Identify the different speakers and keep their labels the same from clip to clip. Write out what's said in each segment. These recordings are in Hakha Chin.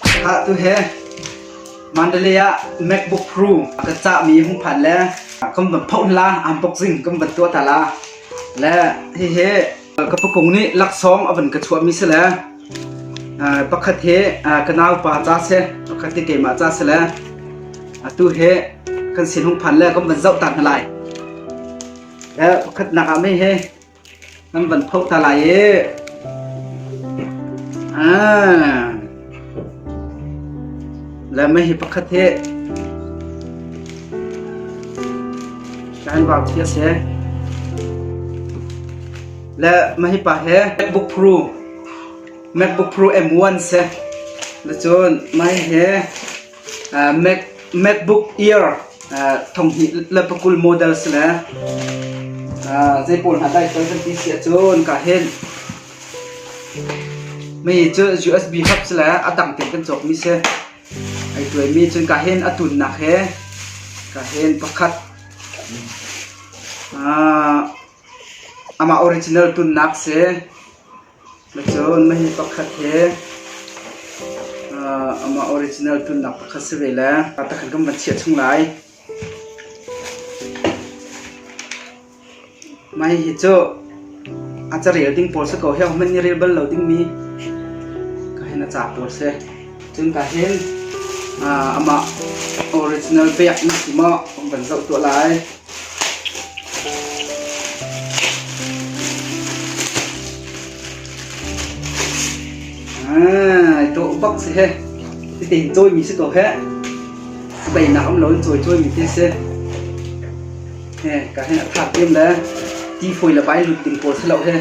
Speaker 1: Atu he Mandalay MacBook Pro ka cahmi hung phan le kan van phoh la unboxing kan van tuah ta la le hihi ka pukung nih laksawng avan ka chuahmi si le pakhat hi ka nau pa ca se pakhat hi keimah ca se le atu he kan sin hung phan le kan van zoh ta hna lai pakhat nak ah mai he Nan van phoh ta lai ee. Ah. Lai mai hi pakhat hi kan vau thi ase. Le mahi pa he MacBook Pro MacBook Pro M1 se. Le cun mai he MacBook Air thonghnih le pakul model si le zei pawl hna dai sual kan ti si ahcun ka hin mi cu USB hub si le a dang tein kan cawkmi si ai tuaimi cun ka hin a tunnak he ka hin pakhat amah original tunnak si Macun mahhi pakhat hi amah original tunnak pakhat si ve le takhan kan van chiah chung lai. Mai hi cu a carel ding pawl si ko heo hman ni rel bal lo ding mi ka hin a ca pawl si. Cun ka hin amah original pek nak ti maw kan van zoh tuah lai. Tuah bak si he. Ti cawi mi si ko he. Bai nak am lo in cawi cawi mi ti si. He, ka hen a thak tim le. Ti phoi la bai lut ding pawl selo he.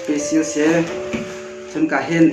Speaker 1: Pe sil se. Chun ka hen.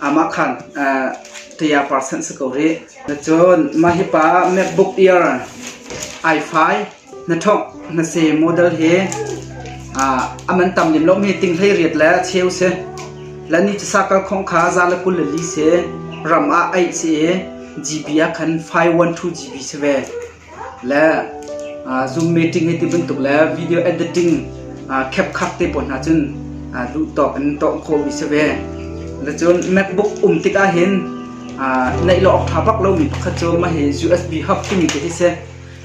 Speaker 1: Amah khan Taya Par San si ko rih. Cun mah hi pa MacBook Air i5 na ṭhawngh na se model hi a man tam lem lomi ting hlei riat le cheu si. Le ni cu sakal khawng kha za le kul le li si. Ram ah aih si i GB ah khan 512 GB si ve. le Zoom meeting hi ti bantuk le video editing khepkhak te pawl hna cun duh tawk in tawh khawhmi si ve. Cun MacBook um tikah hin neih lo awk ṭha bak lomi pakhat cu mah hi USB hub timi te hi si.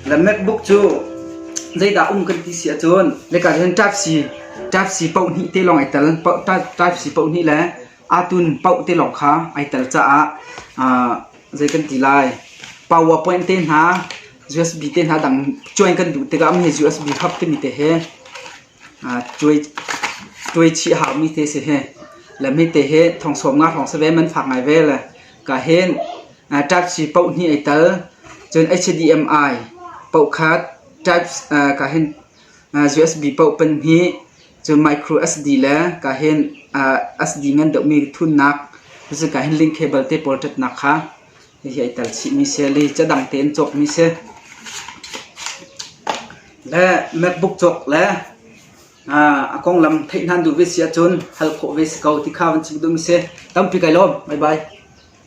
Speaker 1: Le MacBook cu zeidah um kan ti si ahcun nika hin Type C Type C paohnih te lawng ai tel. Type C paohnih le Atun paoh te lawng kha ai tel caah ah zei kan ti lai. PowerPoint te hna, USB te hna dang cuain kan duh tikah mi he USB hub timi te he ah cuai cuai chih haumi te si hi. Le mi te he thong sawm nga hrawng save man fak ngai ve le ka hen ah ṭakci paoh hnih ai tel cun HDMI paoh kha type ah ka hen USB poh pan hi cun micro SD le kahin SD ngan deuhmi thunnak cucu kahin link cable te pawl ṭatnak kha hihi ai tel chihmi si a li cadang tein cawkmi si. Le MacBook cawk le a konglam theih nan duh ve si ahcun hal khawh ve si ko ti kha van chim duhmi si. Tampi kai lawm. Bye bye.